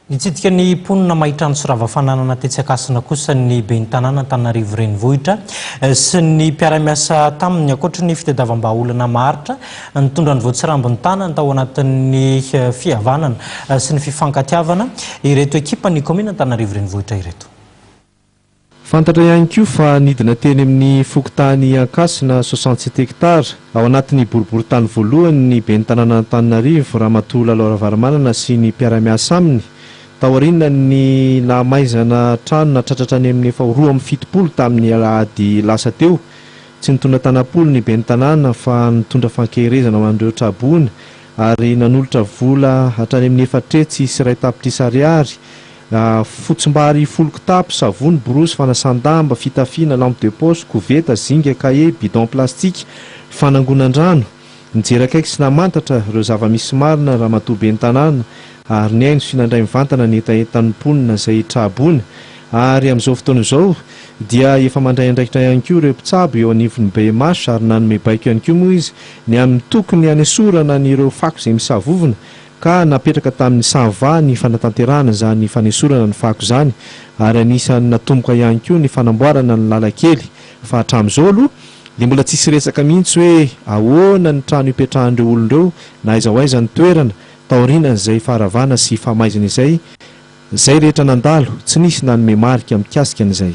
Nitsidika ny mponina Mahitrano sy Ravafananana tetsy Ankasina kosa ny ben'ny tanàna Antananarivo Renivohitra sy ny mpiara-miasa taminy. Ankoatry ny fitadiavam-bahaolana maharitra, nitondra ny voatsirambin'ny tanany tao anatin'ny fihavanana sy ny fifankatiavana ireto ekipan'ny kaominina Antananarivo Renivohitra ireto. Fantatra ihany koa fa nidina teny amin'ny fokontany Ankasina soixante sept hectares, ao anatin'ny boriborintany voalohany ny ben'ny tanànan'Antananarivo, Ramatoa Lalo Ravalomanana sy ny mpiara-miasa aminy, taorianan'ny nahamaizana trano natratratra any amin'ny efa ho roa amby fitopolo tamin'ny alahady lasa teo. Tsy nitondra tanam-polo ny ben'ny tanàna fa nitondra fankeherezana ho an'ireo tra-boina ary nanolotra vola hatrany amin'ny efatretsy sy iray tapitrisa ariary Fotsim-bary folo kitapo, savony, borosy, fanasan-damba, fitafiana, lampe de poche, koveta, zinga, kahie, bidon plastika, fanangonan-drano. Nijery akaiky sy namantatra ireo zava-misy marina ny ramatoa ben'ny tanàna ary nihaino sy nandray mivantana ny hetahetan'ny mponina izay traboina ary amin'izao fotoana izao dia efa mandray andraikitra ihany koa ireo mpitsabo eo anivon'ny BMH ary nanome baiko ihany koa moa izy ny amin'ny tokony hanesorana an'ireo fako izay misavovona ka napetraka tamin'ny Sava ny fanatanterahana izany fanesorana ny fako izany ary anisan'ny natomboka ihany koa ny fanamboarana ny lalan-kely fa hatramin'izao aloha dia mbola tsisy resaka mihitsy hoe ahoana ny trano hipetrahan'ireo olona ireo na aiza ho aiza ny toerana taorianan'izay faharavana sy famaizana izay izay rehetra nandalo tsy nisy nanome marika mikasika an'izay